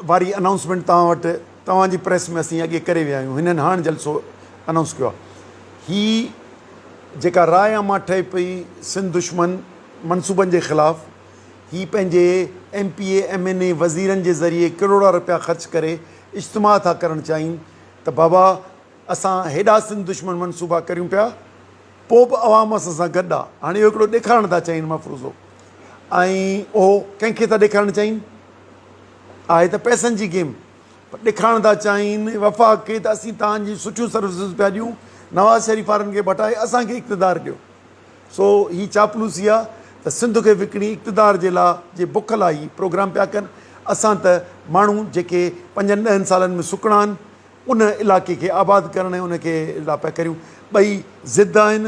واري انائونسمينٽ توهان وٽ توهان جي پريس ۾ اسين اڳي ڪري ويا آهيون هنن هاڻ جلسو انائونس ڪيو آهي هي جيڪا راء عامه ٺهي پئي سنڌ دشمن منصوبن جي خلاف هي پنهنجي M P A M N A وزيرن جي ذريعي ڪروڙا رپيا خرچ ڪري اجتماع ٿا ڪرڻ چاهين ته بابا اسان هيڏا سنڌ دشمن منصوبا ڪريون پيا پو به عوام اسان سان گڏ آهي هاڻي اهو هڪڙو ڏيکارڻ ٿا چاهين مفروضو ۽ اهو ڪنهن کي ٿا ڏيکارڻ چاهين آهي ته پئسن جي گيم پر ڏکائڻ ٿا چاهين وفاق کي ته اسين توهان جون سٺيون سروسز پيا ڏيون نواز شريف وارن کي ڀٽائي اسان کي اقتدار ڏيو سو هي چاپلوسي آ ته سنڌ کي وڪڻي اقتدار جي لا جي بک لا هي پروگرام پيا ڪن اسان ته ماڻهو جيڪي پنجن ڏهن سالن ۾ سڪڻا آهن ان علائقي کي آباد ڪرڻ ۽ ان کي لا پيا ڪريون ٻئي ضد آهن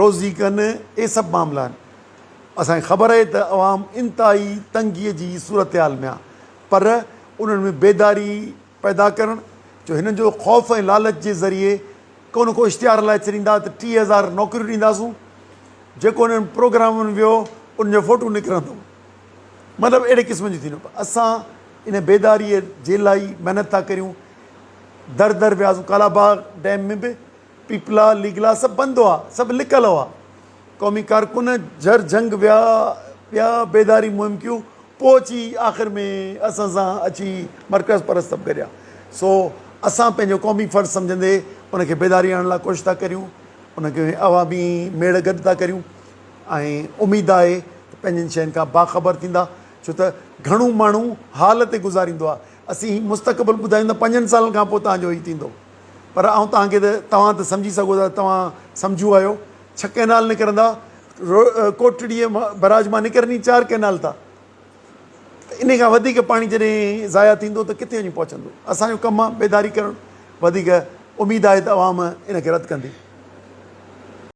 روزي ڪن اهي سڀ معاملا آهن اسان کي خبر آهي ته عوام انتهائي تنگي جي صورتحال ۾ آهي پر انهن ۾ بيداري پيدا ڪرڻ جو هنن جو خوف ۽ لالچ جي ذريعي ڪو نه ڪو اشتهار هلائي ڇڏيندا ته ٽيهه هزار نوڪريون ڏينداسون جيڪو انهن پروگرام ۾ ويو ان جو فوٽو نڪرندو مطلب اهڙي قسم جو ٿيندو پر اسان ان بيداري جي لائي محنت ٿا ڪريون در در وياسون ڪالاباغ ڊيم ۾ به پيپلا ليگلا سڀ بند هئا، سڀ لڪل هئا. قومي ڪارڪن جھر جھنگ ويا، ٻيا بيداري مهم ڪيون، پوء اچي آخر ۾ اسان سان اچي مرڪز پرست سڀ گڏيا. سو اسان پنهنجو قومي فرض سمجھندي ان کي بيداري آڻڻ لاء ڪوشش ٿا ڪريون، ان کي عوامي ميڙ گڏ ٿا ڪريون ۽ اميد آهي ته پنهنجن شين کان باخبر ٿيندا ڇو ته گھڻو ماڻهو حال تي گذاريندو آهي. اسين مستقبل ٻڌايون ٿا پنجن سالن کان پوء توهان جو هي ٿيندو. پر آئون توهان کي ته توهان ته سمجهي سگهو ٿا ته توهان سمجهو آهيو ڇهه ڪئنال نڪرندا ڪوٽڙيء براج مان نڪرني چار ڪئنال ٿا ته انهي کان وڌيڪ پاڻي جڏهن ضايع ٿيندو ته ڪٿي وڃي پهچندو اسان جو ڪم آهي بيداري ڪرڻ وڌيڪ اميد آهي ته عوام ان کي رد ڪندي.